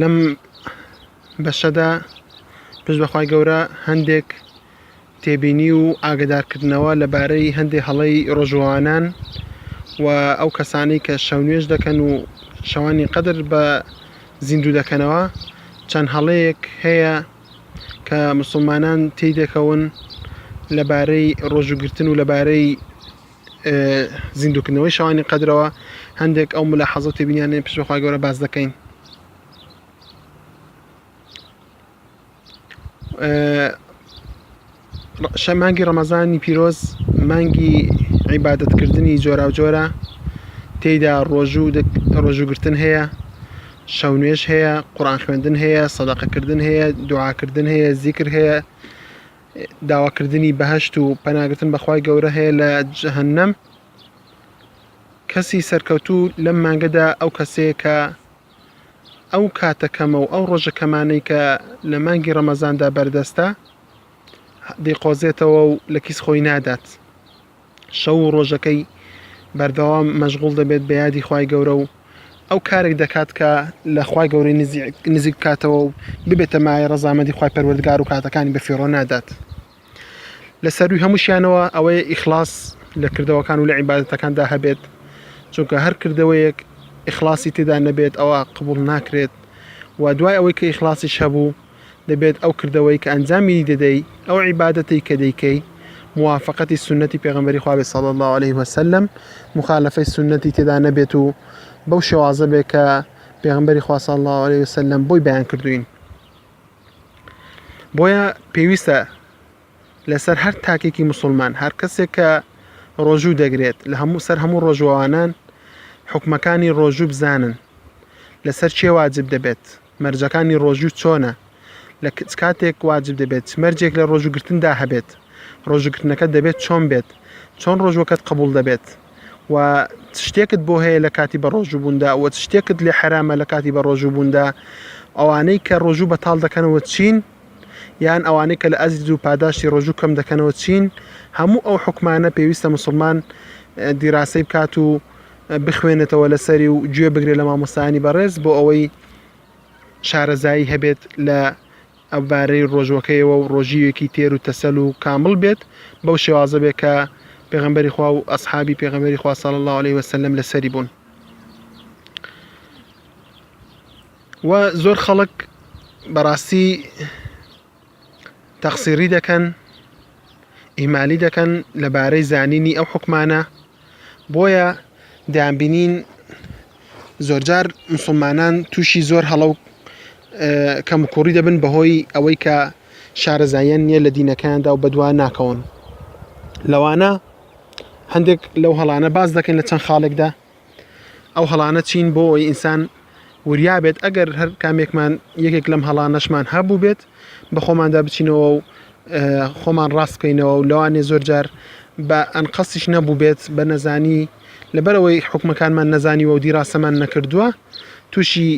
لەم بەشەدا پشت بەخوای گەورە هەندێک تێبینی و ئاگدارکردنەوە لەبارەی هەندێک هەڵەی ڕۆژوانان و ئەو کەسانی کە شەونێش دەکەن و شەوانی قەدر بە زیندوو دەکەنەوە چەند هەڵەیەک هەیە کە مسلمانان تێی دەکەون لەبارەی ڕۆژوگرتن و لەبارەی زیندوکردنەوەی شەوانی قەدرەوە هەندێک ئەو ملا حەزە تێبینیانێ پشت بەخوای گەورە باز دەکەین شە مانگی ڕەمەزانی پیرۆز مانگی عیبادەتکردنی جۆرا و جۆرە تێیدا ڕۆژوو ڕۆژووگرتن هەیە شەو نوێش هەیە قڕان خوێندن هەیە سەدەقەکردن هەیە دوعاکردن هەیە زیکر هەیە داواکردنی بەهەشت و پەناگرتن بەخوای گەورە هەیە لە جەهنم کەسی سەرکەوتوو لەم مانگەدا ئەو کەسەیە کە ئەو کاتە کەمە و ئەو ڕۆژە کەمانەی کە لە مانگی ڕەمەزاندا بەردەستە دیقۆزێتەوە و لە کیس خۆی نادات شەو و ڕۆژەکەی بەردەوام مەشغوڵ دەبێت بە یادی خوای گەورە و ئەو کارێک دەکات کە لە خوای گەورەی نزیک بکاتەوە و ببێتە مایە ڕەزامەندی خوای پەروەردگار و کاتەکانی بە فیڕۆ نادات لە سەروی هەمووشیانەوە ئەوەیە ئیخلاص لە کردەوەکان و لە عیباەتەکاندا هەبێت چونکە هەر کردەوەیەک ئیخلاصی تێدا نەبێت ئەوە قبول ناکرێت و دوای ئەوەی کە ئیخلاصیش هەبوو دەبێت ئەو کردەوەی کە ئەنجامی دەدەی، ئەو عیبادەتەی کە دەیکەی، موافەقەتی سوننەتی پێغەمبەری خوا بێت صلی اللە علیە و سلم، موخالەفەی سوننەتی تێدا نەبێت و بەو شێوازە بێت کە پێغەمبەری خوا صلی اللە علیە و سلم بۆی بەیان کردووین. بۆیە پێویستە لەسەر هەر تاکێکی مسلمان، هەر کەسێک کە ڕۆژوو دەگرێت لە هەموو سەر هەموو ڕۆژوانان حکومەکانی ڕۆژوو بزانن لەسەر چێ واجب دەبێت، مەرجەکانی ڕۆژوو چۆنە؟ لە چ کاتێک واجب دەبێت؟ چ مەرجێک لە ڕۆژووگرتندا هەبێت؟ ڕۆژووگرتنەکەت دەبێت چۆن بێت؟ چۆن ڕۆژووەکەت قبوڵ دەبێت؟ وە چ شتێکت بۆ هەیە لە کاتی بەڕۆژووبووندا؟ وە چ شتێکت لێ حەرامە لە کاتی بەڕۆژووبووندا؟ ئەوانەی کە ڕۆژوو بەتاڵ دەکەنەوە چین؟ یان ئەوانەی کە لە ئەجر و پاداشتی ڕۆژوو کەم دەکەنەوە چین؟ هەموو ئەو حوکمانە پێویستە موسڵمان دیراسەی بکات و بخوێنێتەوە لەسەری و گوێ بگرێت لە مامۆستایانی بەڕێز بۆ ئەوەی شارەزایی هەبێت لە ئەوبارەی ڕۆژوەکەیەوە و ڕۆژیوێکی تێر و تەسەل و کامل بێت بەو شێوازە بێت کە پێغمبەری خوا و ئەسحابی پێغمبەری خوا صلی الله عليه وسلم لەسەری بوون و زۆر خەڵک بەڕاستی تەقسیری دەکەن ئیمالی دەکەن لەبارەی زانینی ئەو حکومانە بۆیە دەیانبینین زۆرجار مسلمانان تووشی زۆر هەڵە و کەمکوڕی دەبن بەهۆی ئەوەی کە شارەزاییان نییە لە دینەکەیاندا و بەدووا ناکەون لەوانە هەندێک لەو هەڵانە باز دەکەین لە چەند خاڵێکدا ئەو هەڵانە چین بۆ ئەوی ئینسان وریا بێت ئەگەر هەر کامێکمان یەکێک لەم هەڵانەشمان هەبوو بێت بە خۆماندا بچینەوە و خۆمان ڕاست بکەینەوە و لەوانێ زۆر جار بە ئەنقەسیش نەبوو بێت بە نەزانی لەبەرەوەی حکومەکانمان نەزانی و دیڕاستەمان نەکردووە تووشی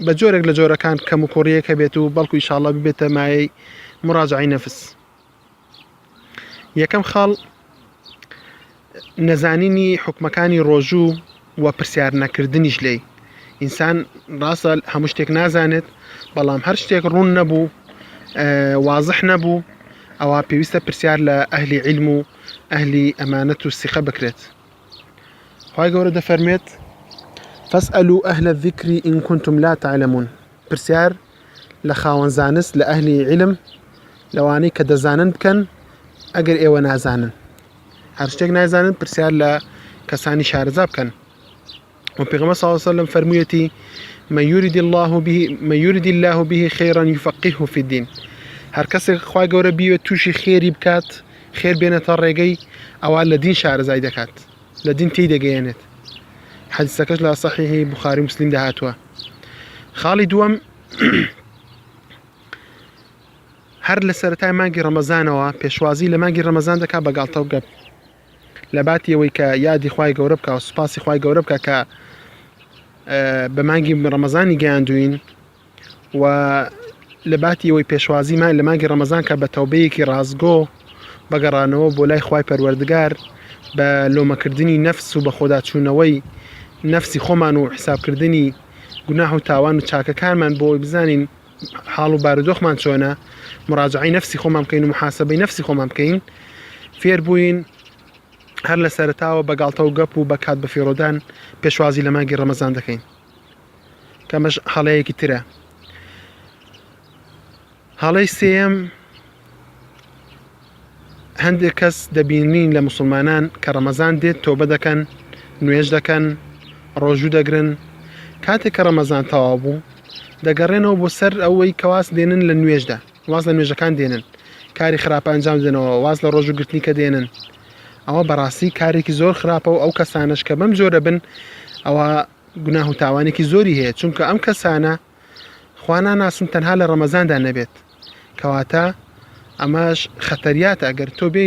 بە جۆرێک لە جۆرەکان کەم و کوڕیەکە بێت و بەڵکو ئیشاڵە ببێتە مایەی مراجعی نەفس. یەکەم خاڵ نەزانینی حکومەکانی ڕۆژوو و پرسیار نەکردنیش لێی ئینسان ڕاستە هەموو شتێک نازانێت بەڵام هەر شتێک ڕوون نەبوو وازح نەبوو ئەوە پێویستە پرسیار لە ئەهلی علم و ئەهلی ئەمانەت و سیخە بکرێت خی گەورە دەفەرمێت فەس ئەلو ئەهلە ذیکری ئینکونتم لا تعلممون پرسیار لە خاوەن زانست لە ئەهلی عیلم لەوانەی کە دەزانن بکەن ئەگەر ئێوە نازانن هەر شتێک نازانن پرسیار لە کەسانی شارەزا بکەن و پێغمە ساوسە لەم فەرموویەتی مەیوریدی الله به مەیوریدی الله به خێران یفقیه فی الدین هەر کەسێک خخوای گەورە بیوێت تووشی خێری بکات خێر بێنێتە ڕێگەی ئەوە لە دین شارەزای دەکات لە دین تێی دەگەیەنێت حەدیسەکەش لە سەحیحی بخاری مسلیم دەهاتوە خاڵی دووەم هەر لە سەرەتای مانگی ڕەمەزانەوە پێشوازی لە مانگی ڕەمەزان دەکا بە گاڵتە و گەپ لە باتی ئەوەی کە یادی خی گەورە بکە و سوپاسی خی گەورە بکە کە بە مانگی ڕەمەزانی گەیاندوین و لە باتی ئەوەی پێشوازیمان لە مانگی ڕەمەزان کە بە تەوبەیەکی ڕاستگۆ بەگەڕانەوە بۆ لای خی پەروەردگار بە لۆمەکردنی نەفس و بەخۆداچوونەوەی نەفسی خۆمان و حسابکردنی گوناه و تاوان و چاکەکانمان بۆی بزانین حاڵ و بارودۆخمان چۆنە مراجعی نەفسی خۆمان بکەین و محاسبەی نەفسی خۆمان بکەین فێر بووین هەر لە سەرتاوە بە گاڵتە و گەپ و بە کات بەفیڕۆدان پێشوازی لە مانگی ڕەمەزان دەکەین کەمەش هەڵەیەکی ترە هەڵەی سێم هەندێک کەس دەبینین لە مسلمانان کە ڕەمەزان دێت تۆبە دەکەن نوێژ دەکەن ڕۆژوو دەگرن کاتێک کە ڕەمەزان تەوا بوو دەگەڕێنەوە بۆ سەر ئەوەی کەواز دێنن لە نوێژدا واز لە نوێژەکان دێنن کاری خراپە ئەنجام دەنەوە واز لە ڕۆژو گرتنی کە دێنن ئەوە بەڕاستی کارێکی زۆر خراپە و ئەو کەسانش کە بەم جۆرە بن ئەوە گوناه و تاوانێکی زۆری هەیە چونکە ئەم کەسانە خوانا ناسن تەنها لە ڕەمەزاندا نەبێت کەواتە ئەمەش خەتەریاتە ئەگەر تۆ بێ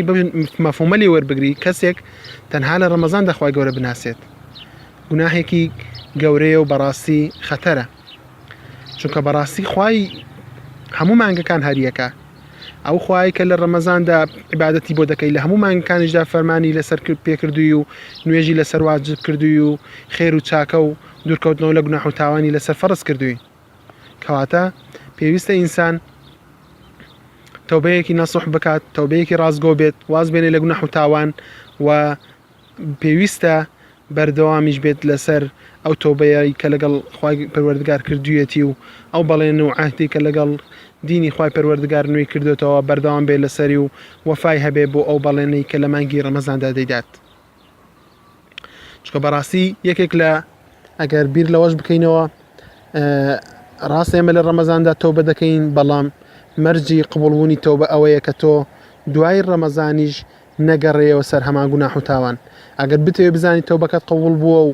مەفومەلی وەربگری کەسێک تەنها لە ڕەمەزان دەخوای گەورە بناسێت گوناهێکی گەورەیە و بەڕاستی خەتەرە چونکە بەڕاستی خوای هەموو مانگەکان هەریەکە ئەو خوای کە لە ڕەمەزاندا عیباەتی بۆ دەکەی لە هەموو مانگەکانیشدا فەرمانی لەسەر کرد پێکردووی و نوێژی لەسەر واجب کردووی و خێر و چاکە و دوورکەوتنەوە لە گوناح و تاوانی لەسەر فەرز کردووی کەواتە پێویستە ئینسان تەوبەیەکی نەسوح بکات تەوبەیەکی ڕازگۆ بێت واز بێنێ لە گوناح و تاوان و پێویستە بەردەوامیش بێت لەسەر ئەو تۆبەیەی کە لەگەڵ خوای پەروەردگار کردوویەتی و ئەو بەڵێن و عهدی کە لەگەڵ دینی خوای پەروەردگار نوێی کردۆتەوە بەردەوام بێت لەسەری و وەفای هەبێ بۆ ئەو بەڵێنەی کە لە مانگی ڕەمەزاندا دەیدات چکە بەڕاستی یەکێک لە ئەگەر بیر لەوەش بکەینەوە ڕاست ئێمە لە ڕەمەزاندا تۆبە دەکەین بەڵام مەرجی قبولبوونی تۆبە ئەوەیە کە تۆ دوای ڕەمەزانیش نەگەڕێیەوە سەر هەمان گوناح و تاوان، ئەگەر بتەوێت بزانیت تەوبەکەت قبوڵ بووە و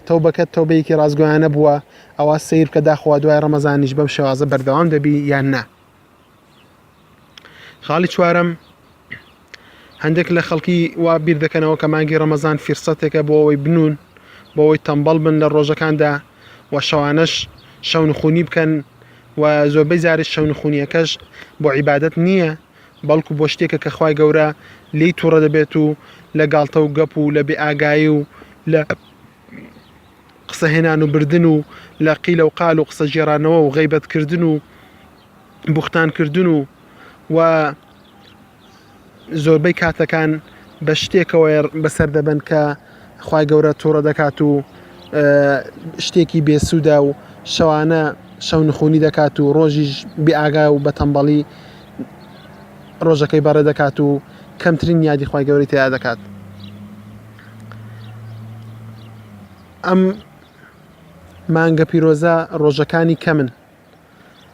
تەوبەکەت تەوبەیەکی ڕاستگۆیانە بووە، ئەوا سەیر بکە داخوا دوای ڕەمەزانیش بەم شێوازە بەردەوام دەبی یان نا. خاڵی چوارەم، هەندێک لە خەڵکی وا بیر دەکەنەوە کە مانگی ڕەمەزان فیرسەتێکە بۆ ئەوەی بنوون، بۆ ئەوەی تەمبەڵ بن لە ڕۆژەکاندا و شەوانەش شەونخوونی بکەن و زۆربەی جاریش شەونخوونیەکەش بۆ عیبادەت نییە، بەڵکو بۆ شتێکە کە خوای گەورە لێی توڕە دەبێت و لە گاڵتە و گەپ و لە بێئاگایی و لە قسە هێنان و بردن و لە قیلە و قال و قسە گێڕانەوە و غیبەت کردن و بوختان کردن و و زۆربەی کاتەکان بە شتێکەوە بەسەر دەبن کە خوای گەورە توڕە دەکات و شتێکی بێسوودە و شەوانە شەو نخونی دەکات و ڕۆژیش بێئاگا و بەتەمبەڵی ڕۆژەکەی بەڕێ دەکات و کەمترین یادی خوای گەوری تیا دەکات ئەم مانگە پیرۆزە ڕۆژەکانی کەمن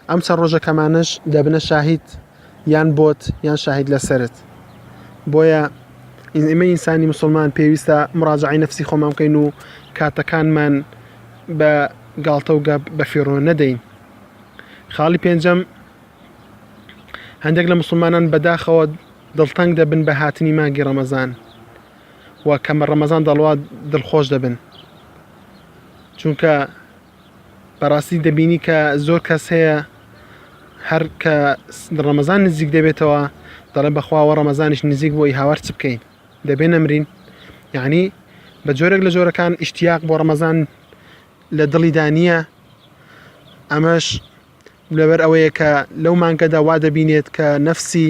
ئەم چەند ڕۆژە کەمانەش دەبنە شاهید یان بۆت یان شاهید لەسرت بۆیە ئمە ئینسانی مسلمان پێویستە مراجعی نفسی خۆمان بکەین و کاتەکانمان بە گاڵتە و گەپ بە فێڕۆ نەدەین خاڵی پێنجەم هەندێک لە مسلمانان بەداخەوە دڵتەنگ دەبن بە هاتنی مانگی ڕەمەزان و کەمە ڕەمەزان دەڵوات دڵخۆش دەبن چونکە بەڕاستی دەبینی کە زۆر کەس هەیە هەر کە ڕەمەزان نزیک دەبێتەوە دەڵێ بەخواوە ڕەمەزانیش نزیک بۆی هاوار چ بکەین دەبێ نەمرین یعنی بە جۆرێک لە جۆرەکان ئیشتیاق بۆ ڕەمەزان لە دڵیدا نییە ئەمەش لەبەر ئەوەیە کە لەو مانگەدا وا دەبینێت کە نەفسی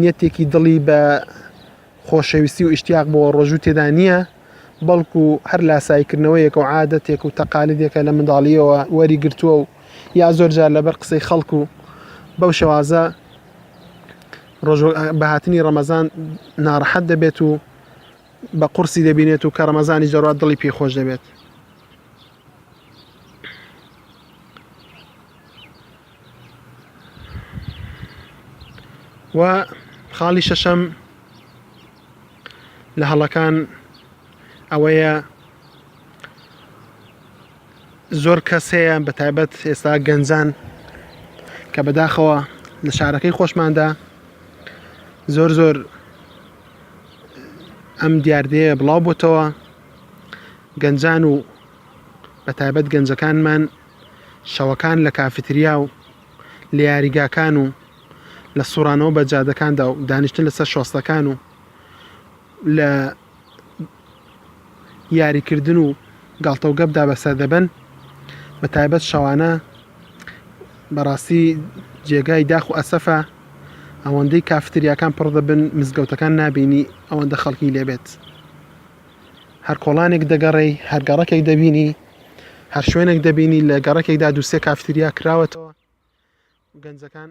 نیەتێکی دڵی بە خۆشەویستی و ئیشتیاق بۆ ڕۆژوو تێدا نییە بەڵکو هەر لاسایکردنەوەیەکە و عادەتێک و تەقالیدێکە لە منداڵیەوە وەری گرتووە و یا زۆر جار لەبەر قسەی خەڵک و بەو شێوازە بەهاتنی ڕەمەزان ناڕەحەت دەبێت و بە قورسی دەبینێت و کە ڕەمەزانی زۆرات دڵی پێی خۆش دەبێت و خاڵی شەشەم لە هەڵەکان ئەوەیە زۆر کەس هەیە بە تایبەت ئێستا گەنجان کە بەداخەوە لە شارەکەی خۆشماندا زۆر زۆر ئەم دیاردەیە بڵاو بۆتەوە گەنجان و بە تایبەت گەنجەکانمان شەوەکان لە کافتریا و لە یاریگاکان و لە سوڕانەوە بە جادەکاندا و دانیشتن لەسەر شۆستەکان و لە یاریکردن و گاڵتەوگەبدا بەسەر دەبەن بە تایبەت شەوانە بەڕاستی جێگای داخ و ئەسەفە ئەوەندەی کافتریاکان پڕ دەبن مزگەوتەکان نابینی ئەوەندە خەڵکی لێبێت. هەر کۆڵانێک دەگەڕێی هەر گەڕەکێک دەبینی هەر شوێنێک دەبینی لە گەڕەکێکدا دووسێ کافتریا کراوەتەوە گەنجەکان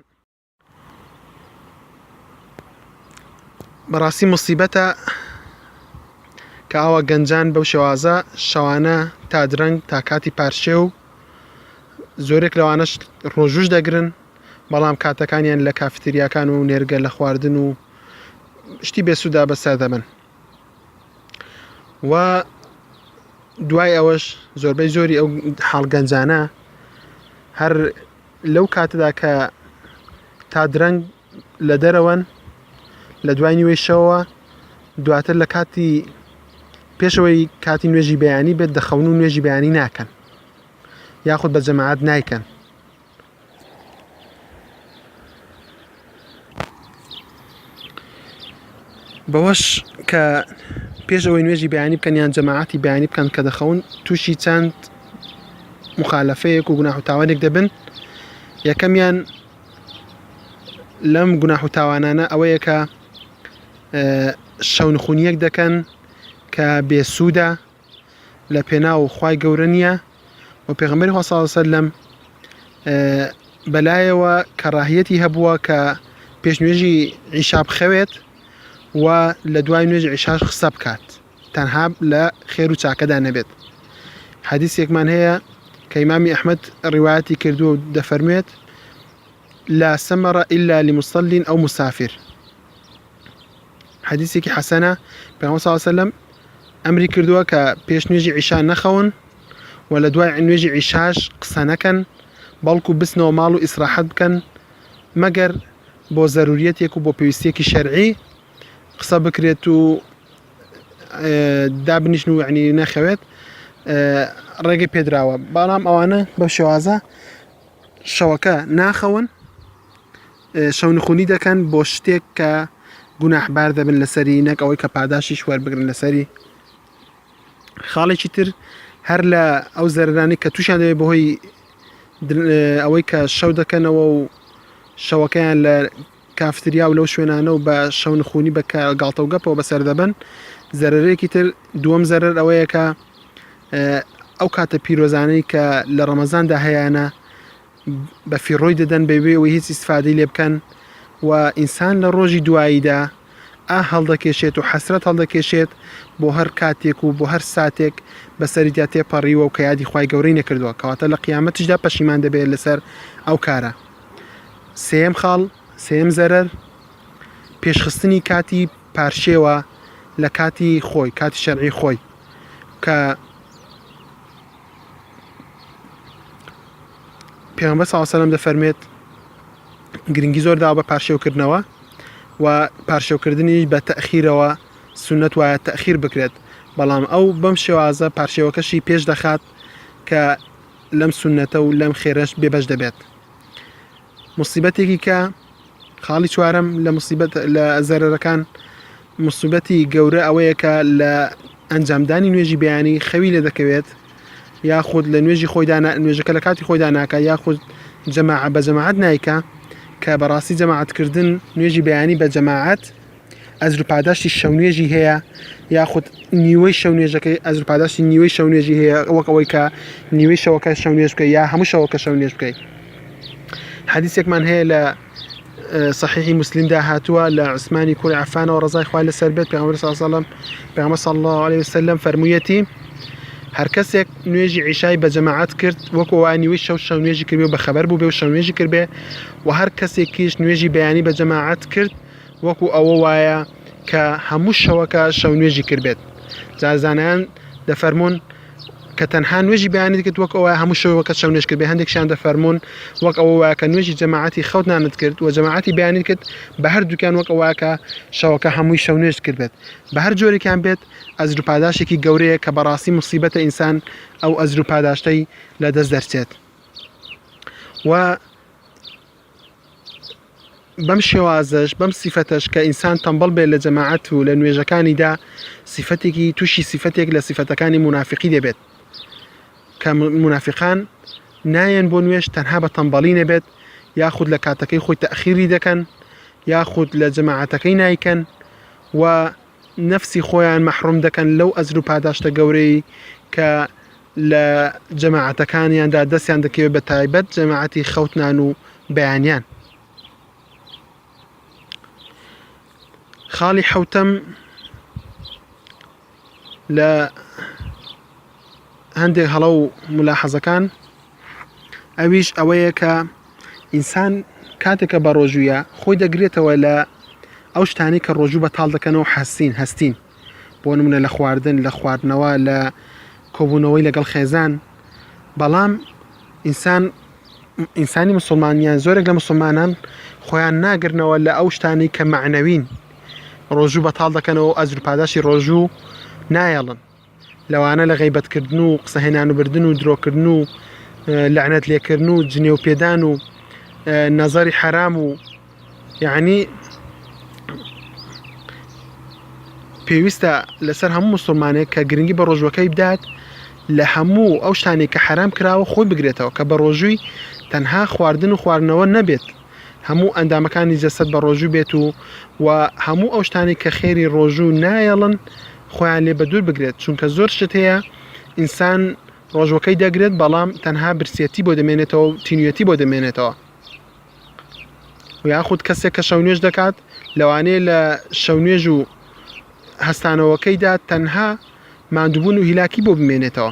بەڕاستی مصیبەتە کە ئاوا گەنجان بەو شێوازە شەوانە تا درەنگ تا کاتی پارشێ و زۆرێک لەوانەش ڕۆژوش دەگرن بەڵام کاتەکانیان لە کافتریاکان و نێرگە لە خواردن و شتی بێسودا بەسەر دەبن و دوای ئەوەش زۆربەی زۆری ئەو حاڵگەنجانە هەر لەو کاتەدا کە تا درەنگ لە دەرەوەن لە دوای نیوەی شەوە دواتر لە کاتی پێشەوەی کاتی نوێژی بەیانی بێت دەخەون و نوێژی بەیانی ناکەن یاخود بە جەماعات نیکەن بەوەش کە پێش ئەوەی نوێژی بەیانی بکەن یان جەماعەتی بەیانی بکەن کە دەخەون تووشی چەند مخالەفەیەک و گوناح و تاوانێک دەبن یەکەمیان لەم گوناح و تاوانانە ئەوەیە کە شەونخونیەک دەکەن کە بێسوودە لە پێناو خوای گەورە نییە و پێغمبەری خوا صلی وسلم بەلایەوە کەڕاهیەتی هەبووە کە پێش نوێژی عیشا بخەوێت و لە دوای نوێژی عیشاش خسە بکات تەنها لە خێر و چاکەدا نەبێت حەدیسێکمان هەیە کە ئیمامی ئەحمد ڕیواتی کردووە و دەفەرموێت لا سەمەڕە ئللا لمسلین ئەو مسافر حەدیسێکی حەسەنە پێغەمبەر صلی الله علیه و سلم ئەمری کردووە کە پێش نوێژی عیشا نەخەون و لە دوای نوێژی عیشاش قسە نەکەن بەڵکو بسنەوە ماڵ و ئیسراحەت بکەن مەگەر بۆ زەروریەتێک و بۆ پێویستێکی شەرعی قسە بکرێت و دابنیشن و یعنی نەخەوێت ڕێگە پێدراوە بەڵام ئەوانە بە شێوازە شەوەکە ناخەون شەونخونی دەکەن بۆ شتێک کە گوناحبار دەبن لەسەری نەک ئەوەی کە پاداشیش وەربگرن لەسەری خاڵێکی تر هەر لە ئەو زەررانی کە تووشیان دەوێت بەهۆی ئەوەی کە شەو دەکەنەوە و شەوەکەیان لە کافتریا و لەو شوێنانە و بە شەونخونی بە گاڵتەوگەپەوە بەسەر دەبن زەرەرێکی تر دووەم زەرەر ئەوەیە کە ئەو کاتە پیرۆزانەی کە لە ڕەمەزاندا هەیەە بە فیڕۆی دەدەن بەبێ ئەوەی هیچ ئیسفادەی لێ بکەن و ئینسان لە ڕۆژی دواییدا ئا هەڵدەکێشێت و حەسرەت هەڵدەکێشێت بۆ هەر کاتێک و بۆ هەر ساتێک بەسەریدا تێپەڕیوە و کە یادی خی گەورەی نەکردووە کەواتە لە قیامەتیشدا پەشیمان دەبێت لەسەر ئەو کارە سێم خاڵ سێم زەرەر پێشخستنی کاتی پارشێوە لە کاتی خۆی کاتی شەرعی خۆی کە پێغمبەر صلی الله علیه و سلم دەفەرمێت گرنگی زۆر دا بە پارشێوکردنەوە و پارشێوکردنی بە تەخیرەوە سنت وایە تەخیر بکرێت بەڵام ئەو بەم شێوازە پارشێوەکەشی پێش دەخات کە لەم سنتە و لەم خێرەش بێبەش دەبێت موسیبەتێکی کە خاڵی چوارەم لە موسیبەت لە زەرەرەکان مسوبەتی گەورە ئەوەیە کە لە ئەنجامدانی نوێژی بەیانی خەوی لێ دەکەوێت یاخود لە نوێژی خۆیدا نوێژەکە لە کاتی خۆیدا ناکە یاخود جەماع بە جەماعات نیکە کە بەڕاستی جەماعاتکردن نوێژی بەیانی بە جەماعات ئەجر و پاداشتی شەونوێژی هەیە یاخود نیوەی شەونوێژەکەی ئەجر و پاداشتی نیوەی شەونوێژی هەیە وەک ئەوەی کە نیوەی شەوەکە شەونوێژ بکە یا هەموو شەوەکە شەونوێژ بکەیت حەدیسێکمان هەیە لە صحیحی مسلمدا هاتووە لە عوسمانی کوری عفانەوە ڕزای خوای لە سەر بێت پێغمبەر صلی الله عليه وسلم پێغمبەر صلی الله عليه وسلم فەرموویەتی هەر کەسێک نوێژی عیشای بە جەماعەت کرد وەکو وانیوی شەو شەو نوێژی کردێ و بە خەبەر بوو بێ و شەو نوێژی کردێ و هەر کەسێکیش نوێژی بەیانی بە جەماعەت کرد وەکو ئەوە وایە کە هەموو شەوەکە شەونوێژی کردبێت، جا زانایان دەفەرموون کە تەنها نوێژی بەیانیت کرد وەک ئەوە هەموو شەوەکە شەونوێژ کردبێت، هەندێکشیان دەفەرموون وەک ئەوە وایە کە نوێژی جەماعەتی خەوتنانت کرد و جەماعەتی بەیانیت کرد، بە هەردووکیان وەک ئەوە کە شەوەکە هەمووی شەونوێژت کردبێت، بە هەر جۆرێکیان بێت ئەجر و پاداشتێکی گەورەیە کە بەڕاستی موسیبەتە ئینسان ئەو ئەجر و پاداشتەی لەدەست دەرچێت و بەم شێوازەش بەم سیفەتەش کە ئینسان تەمبەڵ بێت لە جەماعەت و لە نوێژەکانیدا سیفەتێکی تووشی سیفەتێک لە سیفەتەکانی منافقی دەبێت کە منافقان نایەن بۆ نوێش تەنها بە تەمبەڵی نەبێت یاخود لە کاتەکەی خۆی تەخیری دەکەن یاخود لە جەماعەتەکەی نیکەن و نەفسی خۆیان مەحروم دەکەن لەو ئەجر و پاداشتە گەورەی کە لە جەماعەتەکانیاندا دەستیان دەکەوێت بە تایبەت جەماعەتی خەوتنان و بەیانیان خاڵی حوتەم لە هەندێک هەڵە و ملاحەزەکان ئەویش ئەوەیە کە ئینسان کاتێک کە بە ڕۆژوویە خۆی دەگرێتەوە لە ئەو شتانی کە ڕۆژوو بە تاڵ دەکەنەوە حەسین هەستین بۆ نمونە لە خواردن لە خواردنەوە لە کۆبوونەوەی لەگەڵ خێزان بەڵام ئینسان ئینسانی مسلمانیان زۆرێک لە مسلمانان خۆیان ناگرنەوە لە ئەو شتانی کە معنەوین ڕۆژوو بە تاڵ دەکەنەوە ئەزر پاداشی ڕۆژوو نایەڵن لەوانە لە غەیبەت کردن و قسە هێنان و بردن و درۆکردن و لەعنەت لێکردن و جنێو پێدان و نەزەری حەرام و یعنی پێویستە لەسەر هەموو مسلمانێک کە گرنگی بە ڕۆژوەکەی بدات لە هەموو ئەو شتانی کە حرام کراوە خۆی بگرێتەوە کە بە ڕۆژووی تەنها خواردن و خواردنەوە نەبێت هەموو ئەندامەکانی جەسەد بە ڕۆژوو بێت و و هەموو ئەو شتانی کە خێری ڕۆژوو نایەڵن خۆیان لێ بە دوور بگرێت چونکە زۆر شت هەیە ئینسان ڕۆژوەکەی دەگرێت بەڵام تەنها برسیەتی بۆ دەمێنێتەوە تینوێتی بۆ دەمێنێتەوە یاخود کەسێک کە شەونێش دەکات لەوانەیە لە شەونێژ و هەستانەوەکەیدا تەنها مادوبوون و هیلاکی بۆ بمێنێتەوە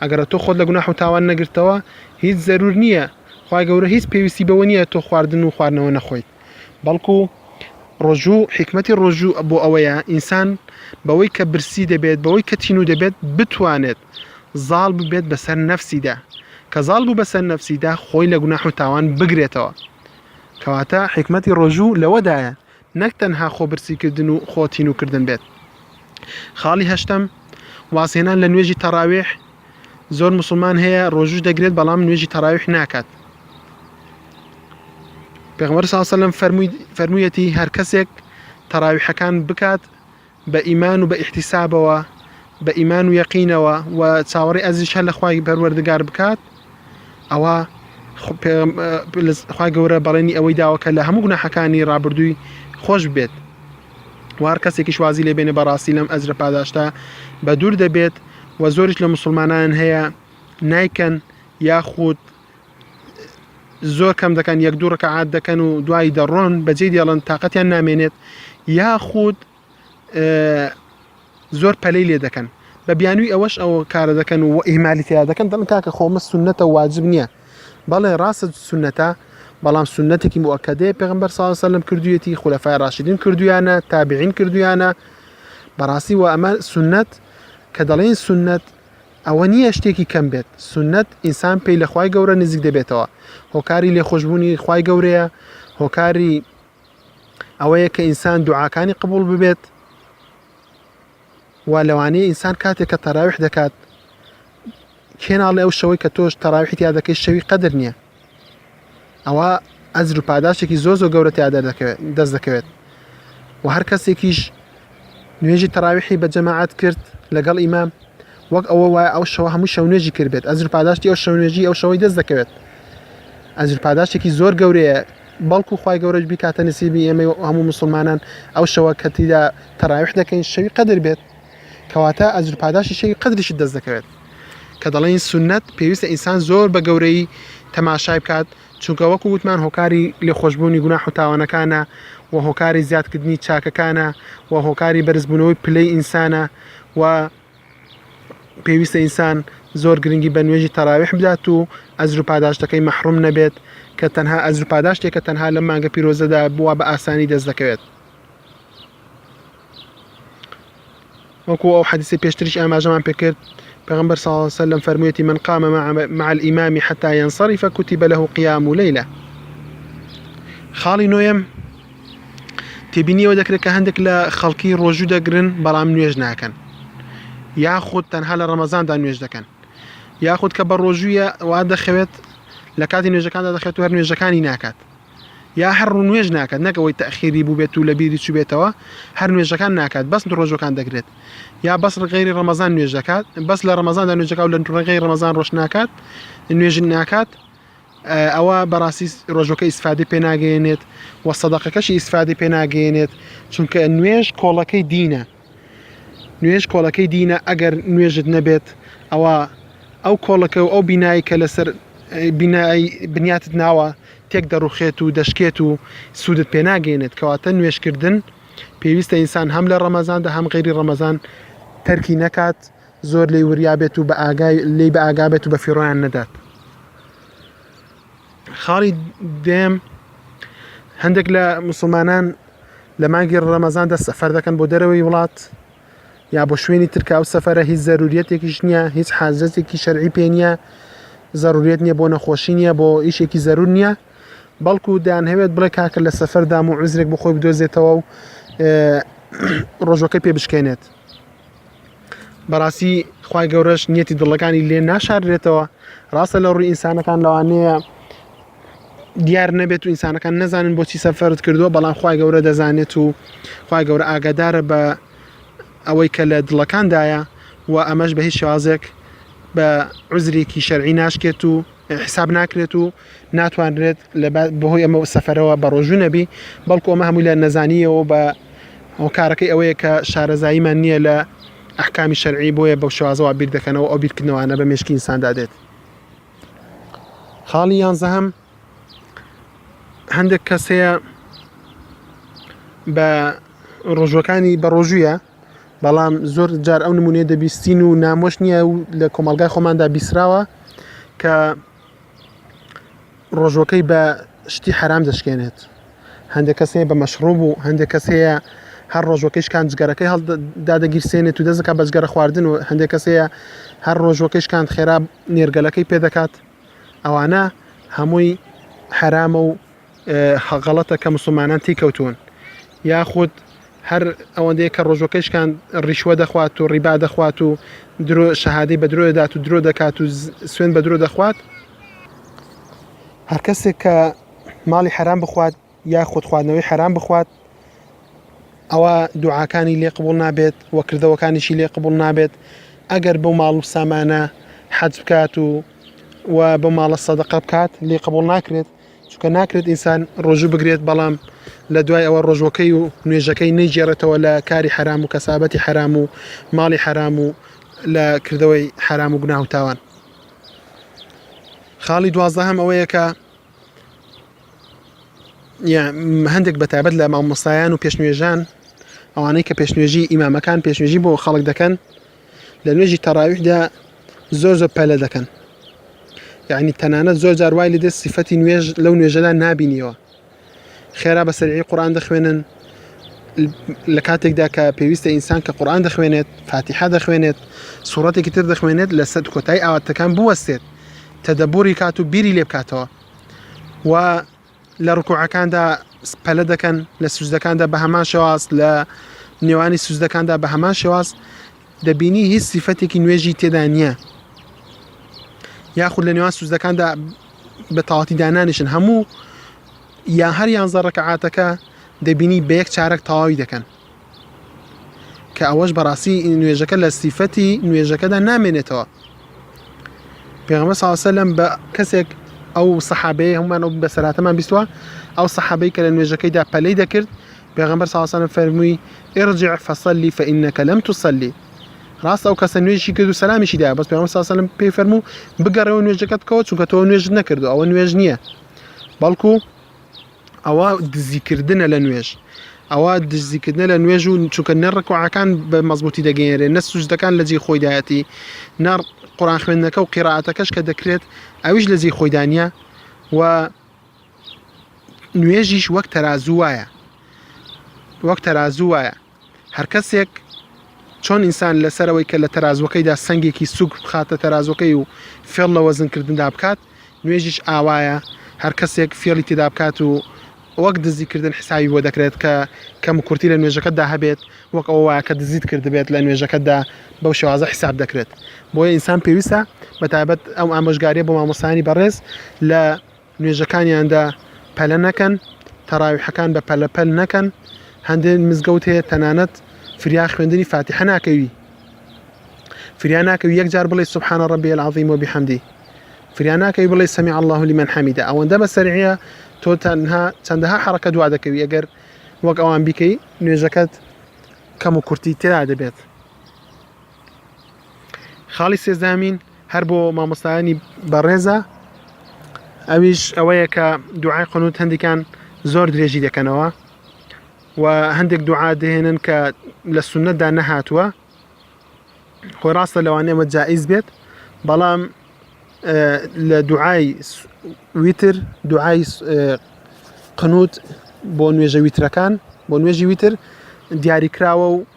ئەگەڕ تۆ خۆت لە گوناح و تاوان نەگرتەوە هیچ زەرور نییە خوای گەورە هیچ پێویستی بەوە نییە تۆ خواردن و خواردنەوە نەخۆیت بەڵکو ڕۆژوو حیکمەتی ڕۆژوو بۆ ئەوەیە ئینسان بەوەی کە برسی دەبێت بەوەی کە تینوو دەبێت بتوانێت زاڵ ببێت بەسەر نەفسیدا کە زاڵ بوو بەسەر نەفسیدا خۆی لە گوناح و تاوان بگرێتەوە کەواتە حیکمەتی ڕۆژوو لەوەدایە نەک تەنها خۆبرسیکردن و خۆ تینووکردن بێت. خاڵی هەشتەم، وازهێنان لە نوێژی تەڕاویح، زۆر موسڵمان هەیە ڕۆژووش دەگرێت بەڵام نوێژی تەڕاویح ناکات. پێغەمبەر صلی اللە علیه و سلم فەرمووی فەرموویەتی هەر کەسێک تەڕاویحەکان بکات بە ئیمان و بە ئیحتیسابەوە، بە ئیمان و یەقینەوە و چاوەڕێی ئەجریش هەر لە خوای پەروەردگار بکات، ئەوە خو- پێغەم- ئە، لە- خوای گەورە بەڵێنی ئەوەی داوە کە لە هەموو گوناحەکانی ڕابردووی خۆش بێت و هەر کەسێکیش وازی لێ بێنێ بەڕاستی لەم ئەجرە پاداشتە بە دوور دەبێت و زۆریش لە موسڵمانان هەیە نایکەن یاخود زۆر کەم دەکەن یەک دوو ڕکەعات دەکەن و دوایی دەڕۆن بەجێ دێڵن تااقەتیان نامێنێت یاخود زۆر پەلەی لێ دەکەن بە بیانووی ئەوەش ئەوە کارە دەکەن و ئیمالی تیا دەکەن دەڵن کاکە خۆمە سنەتە واجب نییە بەڵێ ڕاستە سنەتە بەڵام سنەتێکی موکەدەیە پێغمبەر ساسەلم کردوێتی خولەفای ڕاشیدین کردویانە تابعین کردویانە بەڕاستی وە ئەمە سنەت کە دەڵێن سنەت ئەوە نییە شتێکی کەم بێت، سوننەت، ئینسان پێی لە خوای گەورە نزیک دەبێتەوە، هۆکاری لێخۆشبوونی خوای گەورەیە، هۆکاری ئەوەیە کە ئینسان دوعاکانی قبوڵ ببێت، وا لەوانەیە ئینسان کاتێک کە تەراویح دەکات کێ ناڵێ ئەو شەوەی کە تۆش تەراویحی تیا دەکەی شەوی قەدر نییە ئەوا ئەجر و پاداشتێکی زۆر زۆر گەورە تیا دەست دەکەوێت و هەر کەسێکیش نوێژی تەراویحی بە جەماعات کرد لەگەڵ ئیمام وەک ئەوە وایە ئەو شەوە هەموو شەو نوێژی کردبێت ئەجر پاداشتی ئەو شەو نوێژی ئەو شەوەی دەست دەکەوێت ئەجر پاداشتێکی زۆر گەورەیە بەڵکو خی گەورەش بیکاتە نسیبی ئێمە هەموو مسلمانان ئەو شەوە کەتیدا تەراویح دەکەین شەوی قەدر بێت کەواتە ئەجر پاداشتی شەوی قەدریشت دەست دەکەوێت، کە دەڵێین سوننەت پێویستە ئینسان زۆر بە گەورەیی تەماشای بکات، چونکە وەکو وتمان هۆکاری لێخۆشبوونی گوناح و تاوانەکانە و هۆکاری زیادکردنی چاکەکانە و هۆکاری بەرزبوونەوەی پلەی ئینسانە و پێویستە ئینسان زۆر گرنگی بە نوێژی تەراویح بدات و ئەجر و پاداشتەکەی مەحروم نەبێت کە تەنها ئەجر و پاداشتێکە تەنها لەم مانگە پیرۆزەدا بووە بە ئاسانی دەست دەکەوێت. وەکو ئەو حەدیثی پێشتریش ئاماژەمان پێکرد پێغمبەر صلی الله عليه وسلم فرموویەتی من قام مع الإمام حتى ينصرف كتب له قيام ليلة خاڵی نوێم تێبینیەوە دەکرێت کە هەندێک لە خەڵکی ڕۆژوو دەگرن بەڵام نوێژ ناکەن یاخود تەنها لە ڕەمەزاندا نوێژ دەکەن یاخود کە بە ڕۆژوویە وا دەخەوێت لە کاتی نوێژەکاندا دەخێت و هەر نوێژەکانی ناکات یا هەر ڕوو نوێژ ناکات نەک ئەوەی تەخیری بووبێت و لە بیری چوبێتەوە هەر نوێژەکان ناکات بەس ڕۆژەکان دەگرێت یا بەس ڕغێری ڕەمەزان نوێژ دەکات بەس لە ڕەمەزان دا نوێژەکە و لە ڕغی ڕەمەزان ڕۆژ ناکات نوێژ ناکات ئەوە بەڕاستی ڕۆژەکە ئیسفادی پێناگەێنێت و سەدەقەکەشی ئیسفادی پێناگەێنێت چونکە نوێژ کۆڵەکەی دینە نوێژ کۆڵەکەی دینە ئەگەر نوێژت نەبێت ئەوە ئەو کۆڵەکە و ئەو بینایی کە لەسەر بینایی بنیاتت ناوە تێک دەڕوخێت و دەشکێت و سوودت پێناگەێنێت کەواتە نوێشکردن پێویستە ئینسان هەم لە ڕەمەزاندا هەم غێری ڕەمەزان تەرکی نەکات زۆر لی وریابێت و بە ئاگای لی بە ئاگابێت و بە فیڕۆیان نەدات. خاڵی دێم هەندێک لە مسلمانان لە مانگی ڕەمەزاندا سەفەر دەکەن بۆ دەرەوەی وڵات یا بۆ شوێنی ترکا و سەفرە هیچ زەروریەتێکیش نییە هیچ حازەتێکی شەرعی پێ نییە زەروریت نییە بۆ نەخۆشی نییە بۆ ئیشێکی زەرور نییە بەڵکو دەیان هەوێت بڵێ کاکە لە سەفەردام و عزرێک بخۆی بدۆزێتەوە و ڕۆژەکە پێ بشکێنێت بەڕاستی خی گەورەش نیەتی دڵەکانی لێ ناشارێتەوە ڕاستە لە ڕووی ئینسانەکان لەوانەیە دیار نەبێت و ئینسانەکان نەزانن بۆچی سەفرت کردووە بەڵام خی گەورە دەزانێت و خی گەورە ئاگادارە بە ئەوەی کە لە دڵەکاندایە و ئەمەش بە هیچ شازێک بە عزرێکی شەرعی ناشکێت و حیساب ناکرێت و ناتوانرێت لە بەهۆی ئەمە سەفەرەوە بە ڕۆژوو نەبی بەڵکو ئەمە هەمووی لە نەزانیەوە بە هۆکارەکەی ئەوەیە کە شارەزاییمان نییە لە ئەحکامی شەرعی بۆیە بەو شوازەوە بیر دەکەنەوە ئەو بیرکردنەوەانە بە مشکی ئینساندا دێت خاڵی یانزەهم هەندێک کەسەیە بە ڕۆژوەکانی بە ڕۆژوویە بەڵام زۆر جار ئەو نمونەیە دەبیستین و نامۆش نییە و لە کۆمەڵگای خۆماندا بیسراوە کە ڕۆژوەکەی بە شتی حرام دەشکێنێت هەندێک کەس هەیە بە مەشڕوب و هەندێک کەس هەیە هەر ڕۆژوەکەش کان جگەرەکەی هەڵدادەگیرسێنێت و دەزەکە بە جگەرە خواردن و هەندێک کەس هەیە هەر ڕۆژوەکەش کان خێرا نێرگەلەکەی پێدەکات ئەوانە هەمووی حرامە و غەڵەتە کە موسڵمانان تیکەوتوون یاخود هەر ئەوەندەیە کە ڕۆژەکەشکان ڕیشوە دەخوات و ڕیبا دەخوات و درۆ شەهادەی بە درۆ دەدات و درۆ دەکات و سوێن بە درۆ دەخوات هەر کەسێک کە ماڵی حرام بخوات یا خودخواردنەوەی حرام بخوات ئەوە دوعاکانی لێ قبول نابێت وە کردەوەکانیشی لێ قبول نابێت ئەگەر بۆ ماڵ و سامانە حەج بکات و و بە ماڵە سەدەقە بکات لێ قبول ناکرێت چونکە ناکرێت ئینسان ڕۆژوو بگرێت بەڵام لە دوای ئەوە ڕۆژوەکەی و نوێژەکەی نەیگێڕێتەوە لە کاری حەرام و کەسابەتی حەرام و ماڵی حەرام و لە کردەوەی حەرام و گوناه و تاوان خاڵی دوازدە هەم ئەوەیە کە هەندێک بەتابەت لە مامۆستایان و پێشنوێژان ئەوانەی کە پێشنوێژی ئیمامەکان پێشنوێژی بۆ خەڵک دەکەن لە نوێژی تەراویحدا زۆر زۆر پەلە دەکەن یعنی تەنانەت زۆر جار وای لێ سیفەتی نوێژ لەو نوێژەدا نابینیەوە خێرا بە سەرعی قورآان دەخوێنن لە کاتێکدا کە پێویستە ئینسان کە قورآان دەخوێنێت فاتیحا دەخوێنێت سوورەتێکی تر دەخوێنێت لە سەد کۆتای ئاواتەکان بوەستێت تەدەبووری کات و بیری لێ بکاتەوە و لە ڕکوعەکاندا پەلە دەکەن لە سوزدەکاندا بە هەمان شێواز لە نێوانی سوزدەکاندا بە هەمان شێواز دەبینی هیچ سیفەتێکی نوێژی تێدا نییە یاخود لە نێوان سوزدەکاندا بە تاواتی دانانیشن هەموو یا هەر یانزە ڕکەعاتەکە دەبینی بە یەک چارەک تەواوی دەکەن کە ئەوەش بەڕاستی نوێژەکە لە سیفەتی نوێژەکەدا نامێنێتەوە پێغمە ساوسەلم بە کەسێک ئەو سەحابەیە هەمان ئەو بەسەراتەمان بیستوە ئەو سەحابەی کە لە نوێژەکەیدا پەلەی دەکرد پێغمبەر ساوسەلم فەرمووی ئێڕجع فەسەلی فەئینەکە لەم توسەلی ڕاستە ئەو کەسە نوێژی کرد و سەلامیشی دا بەس پێغمبەر ساوسەلم پێی فەرموو بگەڕێەوە نوێژەکەت بکەوە چونکە تۆ نوێژت نەکردو ئەوە نوێژ نییە بەڵکو ئەوە دزیکردنە لە نوێژ ئەوە دزیکردنە لە نوێژ و چونکە نە ڕکوعەکان بە مەزبوتی دەگەێنرێن نە سوزدەکان لە جێ خۆیدایەتی نە قڕان خوێندنەکە و قیراتەکەش کە دەکرێت ئەویش لە جێ خۆیدانە و نوێژیش وەک تەرازوو وایە وەک تەرازوو وایە هەرکەسێک چۆن ئینسان لەسەر ئەوەی کە لە تەرازوەکەیدا سنگێکی سوک بخاتە تەرازوەکەی و فێڵ لە وەزنکردندا بکات نوێژیش ئاوایە هەر کەسێک فێڵی تێدا بکات و وەک دزیکردن حساوی بۆ دەکرێت کە کەم کورتی لە نوێژەکەتدا هەبێت وەک ئەوە وایە کە دزیت کردبێت لە نوێژەکەتدا بەو شێوازە حساب دەکرێت بۆیە ئینسان پێویستە بە تایبەت ئەم ئامۆژگاریە بۆ مامۆستایانی بەڕێز لە نوێژەکانیاندا پەلە نەکەن، تەراویحەکان بە پەلە پەل نەکەن، هەندێ مزگەوت هەیە تەنانەت فریا خوێندنی فاتیحە ناکەوی فریا ناکەوی یەک جار بڵێ سبحان ربی العظیم و بحمدی فریا ناکەوی بڵێ سمع الله لمن حمیده ئەوەندە بە سەرعیە تۆ تەنها چەندەها حرەکە دوا دەکەوی ئەگەر وەک ئەوان بیکەی نوێژەکەت کەم و کورتی تێدا دەبێت خاڵی سێزدامین هەر بۆ مامۆستایانی بەڕێزە ئەویش ئەوەیە کە دوعای قنوت هەندێکان زۆر درێژی دەکەنەوە و هەندێک دوعا دەهێنن کە لە سونەتدا نەهاتووە خۆی ڕاستە لەوانەیە ئەمە جائیز بێت بەڵام لە دوعای ویتر دوعای قنوت بۆ نوێژە ویترەکان بۆ نوێژی ویتر دیاریکراوە و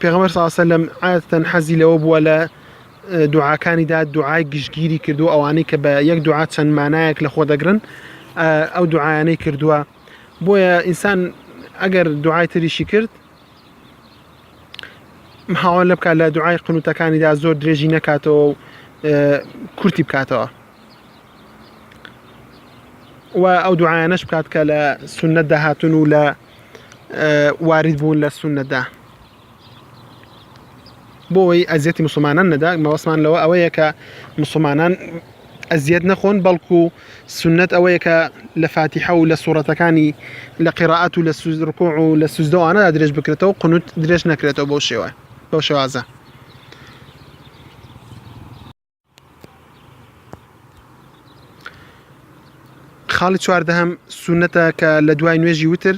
پێغەمبەر صلی الله علیه و سلم عادەتەن حەزی لەوە بووە لە دوعاکانیدا دوعای گشتگیری کردو ئەوانەی کە بە یەک دوعا چەند مانایەک لە خۆ دەگرن ئەو دوعاانەی کردووە بۆیە ئینسان ئەگەر دوعای تریشی کرد هاوان لە بکات لە دوعای قنوتەکانیدا زۆر درێژی نەکاتەوە و کورتی بکاتەوە و ئەو دوعاانەش بکات کە لە سنت داهاتون و لە وارد بوون لە سونەدا بۆەوەی ئەزیەتی مسلمانان نەدا مەوەسمان لەوە ئەوەیە کە مسلمانان ئەزیەت نەخۆن بەڵکو و سنت ئەوەیە کە لە فاتیحە و لە سوڕەتەکانی لە قیڕعات و لە سوزرکۆ و لە سوزدەوانە درێژ بکرێتەوە قنوت درێژ نەکرێتەوە بەو شێوە بەو شێوازە خاڵی چواردەهەم سونەتە کە لە دوای نوێژی وتر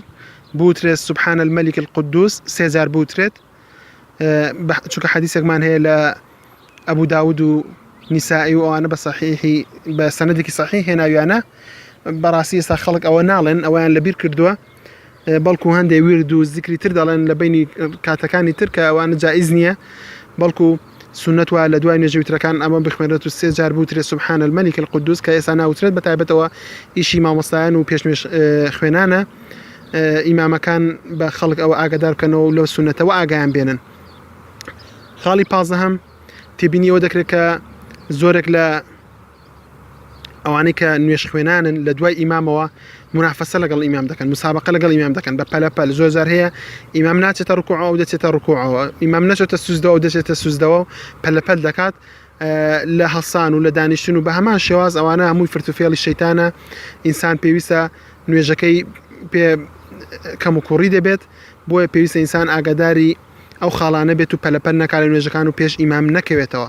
بوترێت سبحان الملك القدوس سێجار بوترێت چونکە حەدیسێکمان هەیە لە ئەبوو داود و نیسایی و ئەوانە بە صحیحی بە سەنەدێکی صحیح هێناویانە بەڕاستی ئێستا خەڵک ئەوە ناڵێن ئەویان لەبیر کردووە بەڵکو هەندێ ورد و زیکری تر دەڵێن لە بینی کاتەکانی تر کە ئەوانە جائیز نییە بەڵکو سنت وایە لە دوای نوێژی وترەکان ئەمە بخوێنرێت و سێ جار بوترێ سبحان الملک القدوس کە ئێستا ناوترێت بە تایبەتەوە ئیشی مامۆستایان و پێش نوێژ اه، خوێنانە اه، ئیمامەکان بە خەڵک ئەوە ئاگادار بکەنەوە و لەو سنەتەوە ئاگایان بێنن خاڵی پازدەهەم تێبینی ئەوە دەکرێت کە زۆرێک لە ئەوانەی کە نوێژخوێنانن لە دوای ئیمامەوە منافەسە لەگەڵ ئیمام دەکەن مسابقە لەگەڵ ئیمام دەکەن بە پەلەپەل زۆر زار هەیە ئیمام ناچێتە ڕکوع ئەو دەچێتە ڕکوعەوە ئیمام نەچێتە سوزدەوە و دەچێتە سوزدەوە پەلەپەل دەکات لە هەسان و لە دانیشتن و بە هەمان شێواز ئەوانە هەمووی فرتوفێڵی شەیتانە ئینسان پێویستە نوێژەکەی پێ کەم و کوڕی دەبێت بۆیە پێویستە ئینسان ئاگاداری ئەو خاڵانە بێت و پەلەپەل نەکارە نوێژەکان و پێش ئیمام نەکەوێتەوە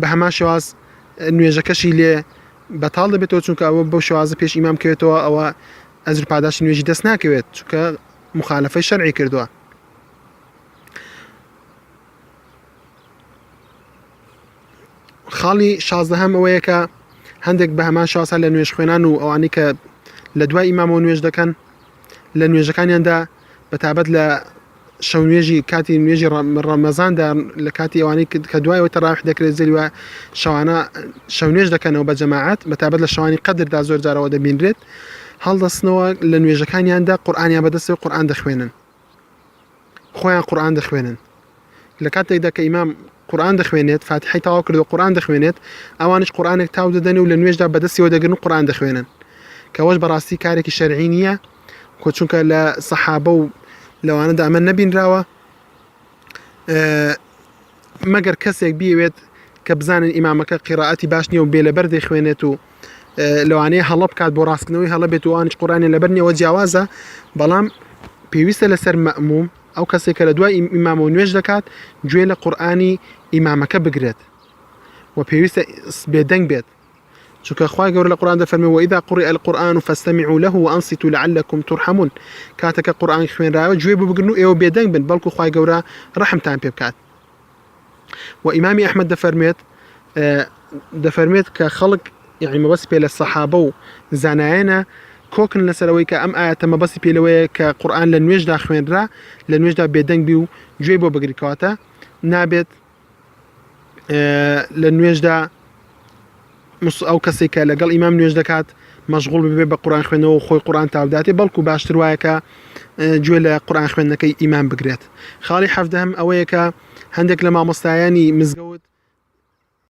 بە هەمان شێواز نوێژەکەشی لێ بەتاڵ دەبێتەوە چونکە ئەوە بەو شێوازە پێش ئیمام کەوێتەوە ئەوە ئەزر پاداشتی نوێژی دەست ناکەوێت چونکە مخالفەی شەرعی کردووە خاڵی شازدە هەم ئەوەیە کە هەندێک بە هەمان شاسا لە نوێژ خوێنان و ئەوانی کە لە دوای ئیمامەوە نوێژ دەکەن لە نوێژەکانیاندا بەتابەت لە شەو نوێژی کاتی نوێژی ڕەمەزاندا لە کاتی ئەوانەی کە دوایەوە تەراویح دەکرێت زەری وایە شەوانە شەو نوێژ دەکەنەوە بە جەماعەت بە تابەت لە شەوانی قەدردا زۆر جارەوە دەبینرێت هەڵدەستنەوە لە نوێژەکانیاندا قورآانیان بەدەستەوە قورآان دەخوێنن خۆیان قورآان دەخوێنن لە کاتێکدا کە ئیمام قورئان دەخوێنێت، فاتیحەی تەواو کردووە قورئان دەخوێنێت، ئەوانیش قورئانێک تاو دەدەنێ و لە نوێژدا بە دەستی وەردەگرن و قورئان دەخوێنن، کە ئەوەش بەڕاستی کارێکی شەرعی نییە، کۆ چونکە لە سەحابە و لەوانەدا ئەمە نەبینراوە، ئە، مەگەر کەسێک بیەوێت کە بزانن ئیمامەکە قیرائەتی باش نییە و بێ لەبەر دەیخوێنێت و ئە، لەوانەیە هەڵە بکات بۆ ڕاستکردنەوەی هەڵە بێت و ئەوانیش قورئانیان لەبەر نییە ئەوە جیاوازە، بەڵام پێویستە لەسەر مەئمووم، ئەو کەسەی کە لە دوای ئیمامەوە نوێژ دەکات گوێ لە قورئانی ئیمامەکە بگرێت و پێویستە بێدەنگ بێت چونکە خوای گەورە لە قورئان دەفەرمێ وإذا قرئ القرآن فاستمعوا له وأنصتوا لعلكم ترحمون کاتەکە قورئان خوێنراوە گوێ ببگرن و ئێوە بێدەنگ بن بەڵکو خوای گەورە ڕەحمتان پێ بکات و ئیمامی ئەحمد دەفەرمێت دەفەرمێت کە خەڵک یعنی مەبەست پێ لە سەحابە و زانایەنە کۆکن لەسەرەوەی کە ئەم ئاەتە مەبەستی پێلەوەیە کە قورآان لە نوێژدا خوێنرا لە نوێژدا بێدەنگبی و گوێ بۆ بگریکاتە نابێت لە نوێژدا مس ئەو کەسێک کە لەگەڵ ئیمام نوێژ دەکات مەشغول ببێ بە قورآن خوێنەوە و خۆی قورآن تاوداتێ بەڵکو باشتر وایە کە اه، گوێ لە قورآن خوێندنەکەی ئیمام بگرێت خاڵی حەفدەهم ئەوەیە کە هەندێک لە مامۆستایانی مزگەوت